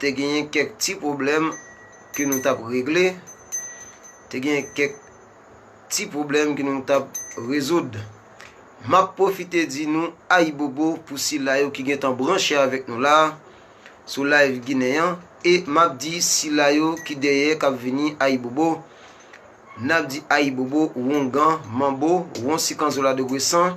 te genyen kèk ti pwoblèm ke nou tap regle, te genyen kèk ti pwoblèm ke nou tap rezoud. Map pwofite di nou ayibobo pou sila yo ki gentan branche avèk nou la sou live ginen an e map di sila yo ki dèyè kap vini ayibobo nap di ayibobo wongan manbo wonsikanzoladogwesan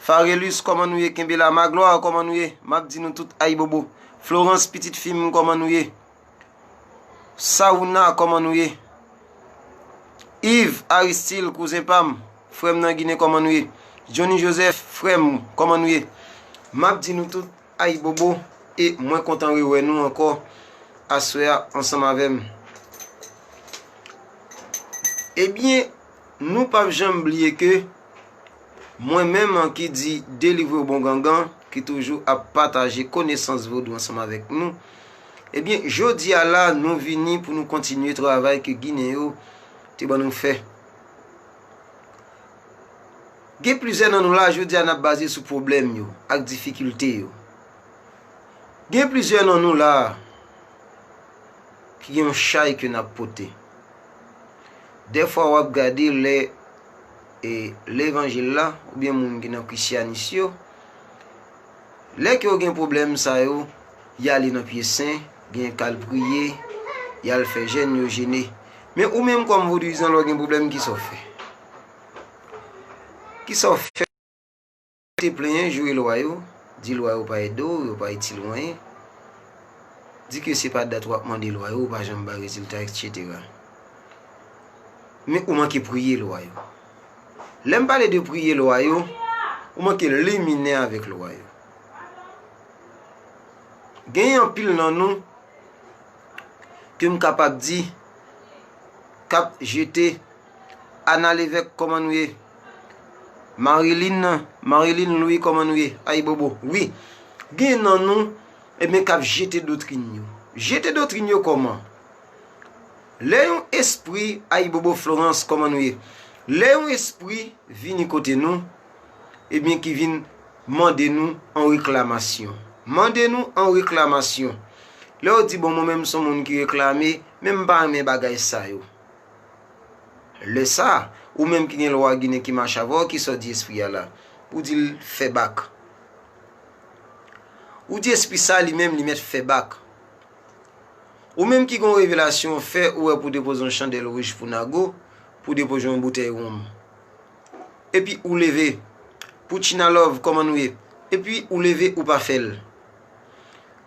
Farelus kòman nou ye kenbe la Magloire kòman nou ye map di nou tout ayibobo Florence pitit fi m kòman nou ye Saouna kòman nou ye Yves Aristil kouzen pa m frè m nan Ginen kòman nou ye Johnny Joseph frè m kòman nou ye map di nou tout ayibobo e mwen kontan rewè nou ankò aswè a ansanm avè m Ebyen nou pap janm bliye ke Mwen menm an ki di delivre w bon gangan, ki toujou ap pataje konesans vodou ansanm avèk nou, ebyen jodi a la nou vini pou nou kontinye travay ke ginen yo te ban nou fè. Gen plizyè nan nou la jodi a n ap baze sou pwoblèm yo ak difikilte yo. Gen plizyè nan nou la ki gen yon chay ke n ap pote. Dèfwa w ap gade lè e levanjil la ou byen moun ki nan krisyanis yo lè ke yo gen pwoblèm sa yo y ale nan pye sen gen kal priye y al fè jèn yo jene men ou menm kòm vodwizan lè w gen pwoblèm kisa w fè kisa w fè Te plenyen, joure lwa yo, di lwa yo pa ede w, yo pa itil w anyen, di ke se pa dat wap mande lwa yo ou pa janm bay rezilta etc. Men ou manke priye lwa yo. Lè m pale de priye lwa yo, ou manke limine avèk lwa yo. Genyen anpil nan nou ke m kapab di kap jete. Ana Levèk kòman nou ye? Marilyn Marilyn Louis kòman nou ye? Ayibobo Wi gen nan nou ebyen k ap jete dotrin yo Jete dotrin yo kòman? Lè yon espri Ayibobo Florence kòman nou ye? Lè yon espri vini kote nou ebyen ki vin mande nou an reklamasyon Mande nou an reklamasyon Lè w di bon mwen menm m s on moun ki reklame men m pa renmen bagay sa yo Lè sa, ou menm ki gen lwa ginen ki mache avè w ki sa w di espri a la? Ou di l fè bak. Ou di espri sa li menm li mèt fè bak. Ou menm ki gen yon revelasyon w fè ou wè pou w depoze yon chandèl wouj pou Nago, pou w depoze yon boutèy wonm. Epi ou leve. Poutchina love kòman nou ye? Epi ou leve ou pa fè l.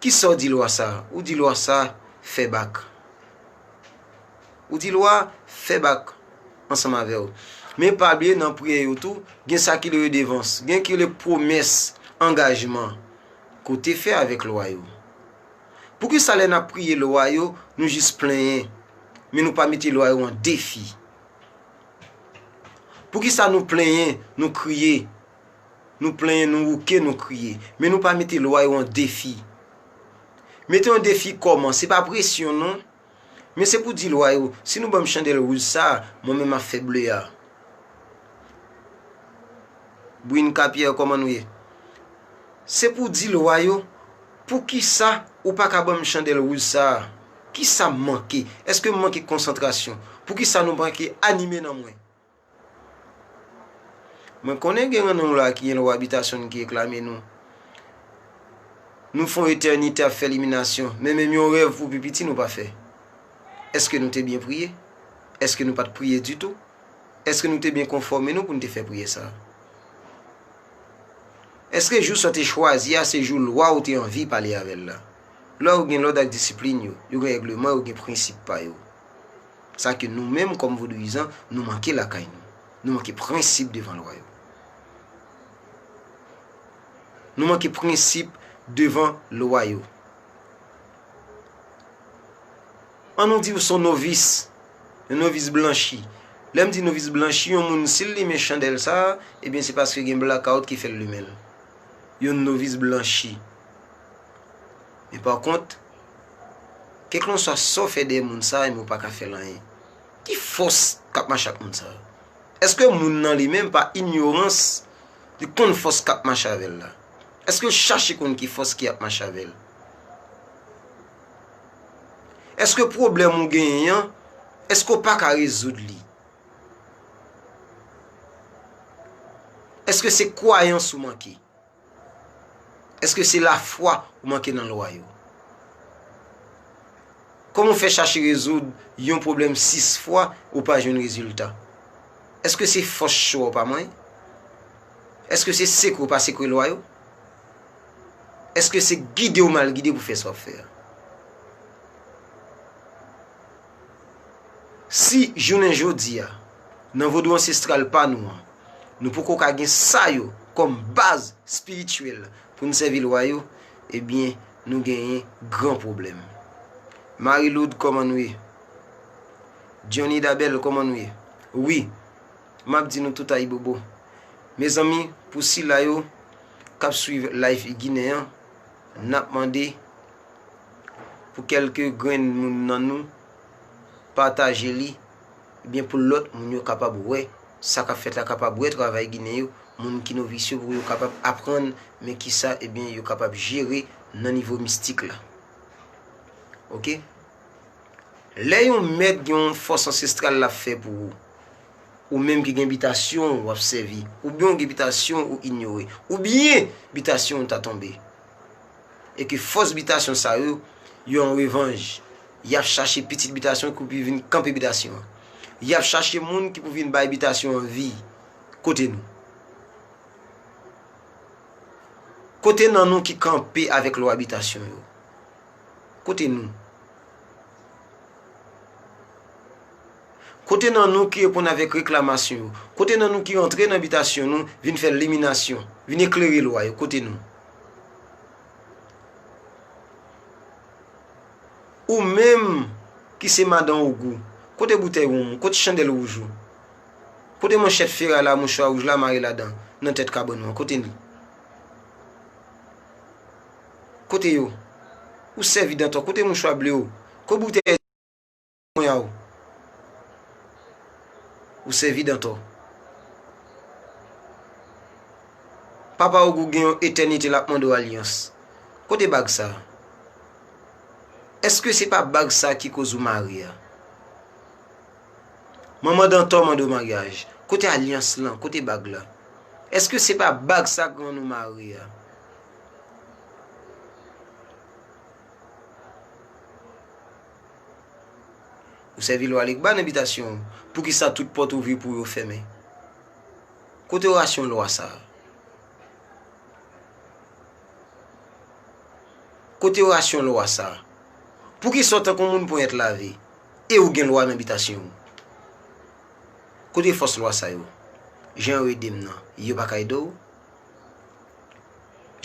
Ki sa w di lwa sa? Ou di lwa sa fè bak. Ou di lwa fè bak ansanm avè w. Men pa bliye nan priyè yo tou, gen sa ki le redevans, gen ki le pwomès, angajman ke w te fè avèk lwa yo. Poukisa lè n ap priye lwa yo, nou jis plenyen, men nou pa mete lwa yo an defi? Poukisa nou plenyen, nou kriye? Nou plenyen, nou wouke, nou kriye. Men nou pa mete lwa yo an defi. Mete an defi kòman? Se pa presyon non. Men se pou di lwa yo, si nou ban m chandèl wouj sa a, mwen menm m ap fè ble a. Brinca Pierre kòman nou ye? Se pou di lwa yo, poukisa ou pa ka ban m chandèl wouj sa a? Kisa m manke? Èske m manke konsantrasyon? Poukisa nou manke anime nan mwen? Mwen konnen gen renmen w la ki gen lwa abitasyon n ki reklame nou. Nou fè yon etènite ap fè liminasyon, men menm yon rèv pou pi piti nou pa fè. Èske nou te byen priye? Èske nou pa t priye ditou? Èske nou te byen konfòme nou pou n te fè priyè sa a? Èske jou sa w te chwazi a se jou lwa ou te anvi pale avè l la? Lwa yo gen lòd ak disiplin yo, yo gen règleman, yo gen prensip pa yo. Sa ke nou menm kòm vodouyizan nou manke lakay nou. Nou manke prensip devan lwa yo. Nou manke prensip devan lwa yo. An nou di ou son novis, yon novis blanchi. Lè m di novis blanchi, yon moun si l limen chandèl sa, ebyen se paske gen blakawout ki fè l limen l. Yon novis blanchi. Men pa kont, Keklonswa sa w fè dèyè moun sa yo men w pa ka fè l anyen. Ki fòs k ap mache ak moun sa yo? Èske moun nan li menm pa inyorans li konn fòs k ap mache avè l la? Èske l chache konn ki fòs ki ap mache avè l? Èske pwoblèm ou genyen an, èske w pa ka rezoud li? Èske se kwayans ou manke? Eske se lafwa ou manke nan lwa yo? Kòman ou fè chache rezoud yon pwoblèm 6 fwa ou pa jwenn rezilta? Eske se fòs cho ou pa manyen? Eske se sekwe ou pa sekwe lwa yo? Eske se gide ou mal gide pou fè sa ou ap fè a? Si jounen jodi a. Nan vodou ansestral pa nou an, nou poko ka gen sa yo kòm baz spirityèl pou n sèvi lwa yo, ebyen nou genyen gran pwoblèm. Marie Lourde kòman nou ye? Johnny Dabel kòman nou ye? Wi, m ap di nou tout ayibobo. Mezanmi, pou sila yo k ap swiv Life I Ginen an, n ap mande pou kèlke grenn moun nan nou pataje li. Ebyen pou lòt moun yo kapab wè sa kap fèt la, kapab wè travay ginen yo, moun ki novis yo pou yo kapab aprann men kisa ebyen yo kapab jere nan nivo mistik la. Ok. Lè yon mèt gen yon fòs ansestral lap fè pou ou, ou menm ki gen bitasyon ou ap sèvi, oubyen ou gen bitasyon ou inyore, oubyen bitasyon ou ta tonbe, e ke fòs bitasyon sa yo, yo an revanj, y ap chache pitit bitasyon ki pou vin kanpe bitasyon an. Y ap chache moun ki pou vin bay bitasyon an vi. Kote nou? Kote nan nou ki kanpe avèk lwa bitasyon yo? Kote nou? Kote nan nou ki reponn avèk reklamasyon yo? Kote nan nou ki rantre nan bitasyon nou vin fè liminasyon, vin eklere lwa yo? Kote nou? Ou menm ki se madan Ogou, kote boutèy wonm ou? Kote chandèl wouj ou? Kote manchèt feray la, mouchwa wouj la mare ladan, nan tèt kabann ou an? Kote li? Kote yo? Ou sèvi dantò, kote mouchwa ble ou? Kote boutèy? Mwen a ou. Ou sèvi Dantò. Papa Ogou gen yon etènite l ap mande w alyans. Kote bag sa a? Èske se pa bag sa a ki koz ou mare a? Manman Dantò mande w maryaj. Kote alyans lan? Kote bag la? Èske se pa bag sa a k rann ou mare a? Ou sèvi Lwa Legba nan bitasyon ou, poukisa tout pòt ouvri pou ou yo fèmen? Kote orasyon Lwa sa a? Kote orasyon Lwa sa a? Poukisa ou tankou moun ponyèt lave, e ou gen Lwa nan bitasyon ou? Kote fòs Lwa sa yo? Jan yo ede m nan, yo pa ka ede ou?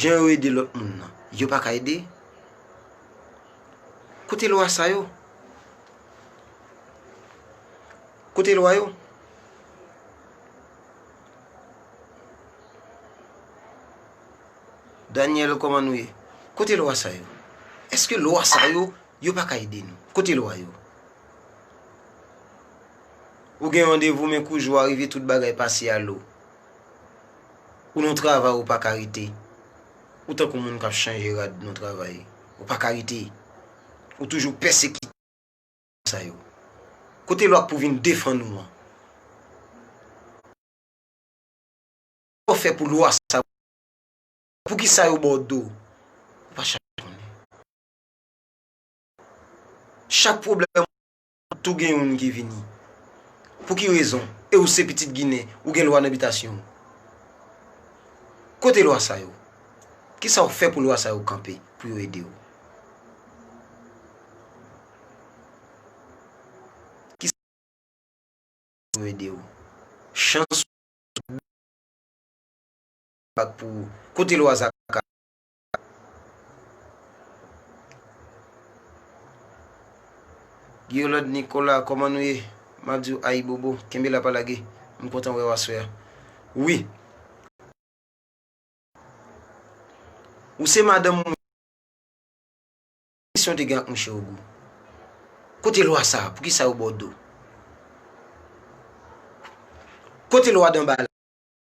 Jan yo ede lòt moun nan, yo pa ka ede? Kote lwa sa yo? Kote lwa yo? Daniel, koman nou ye? Kote lwa sa yo? Eske lwa sa yo, yo pa ka ede nou? Kote lwa yo? Ou gen randevou men kou jou a rive tout bagay pase a lo. Ou nan travay ou pa ka rete. Ou tankou moun kap chanje rad nan travay, ou paka rete, ou toujou pèsekite moun sa yo. Kote lwa k pou vin defann ou an? Kòman w fè pou lwa sa yo defann ou? Poukisa yo ba w do? Ou pa chache konnen. Chak pwoblèm ou jwenn, Tou gen youn ki vini. Pou ki rezon? E ou se pitit Ginen, ou gen lwa nan bitasyon ou. Kote lwa sa yo? Ki sa ou fè pou lwa sa yo kanpe, pou yo ede ou? Ki sa ou fè pou yo ede ou? Chans ou, bèl chans, ak pou ou. Kote lwa Zaka? Guiolad Nicolas, kòman nou ye? Map diw ayibobo, kenbe la pa lage. M kontan wèw aswè a. Wi. Ou se madanm mwen. Kisa w te gen ak mouche ogou? Kote lwa sa? Poukisa yo baw do? Kote lwa danbala?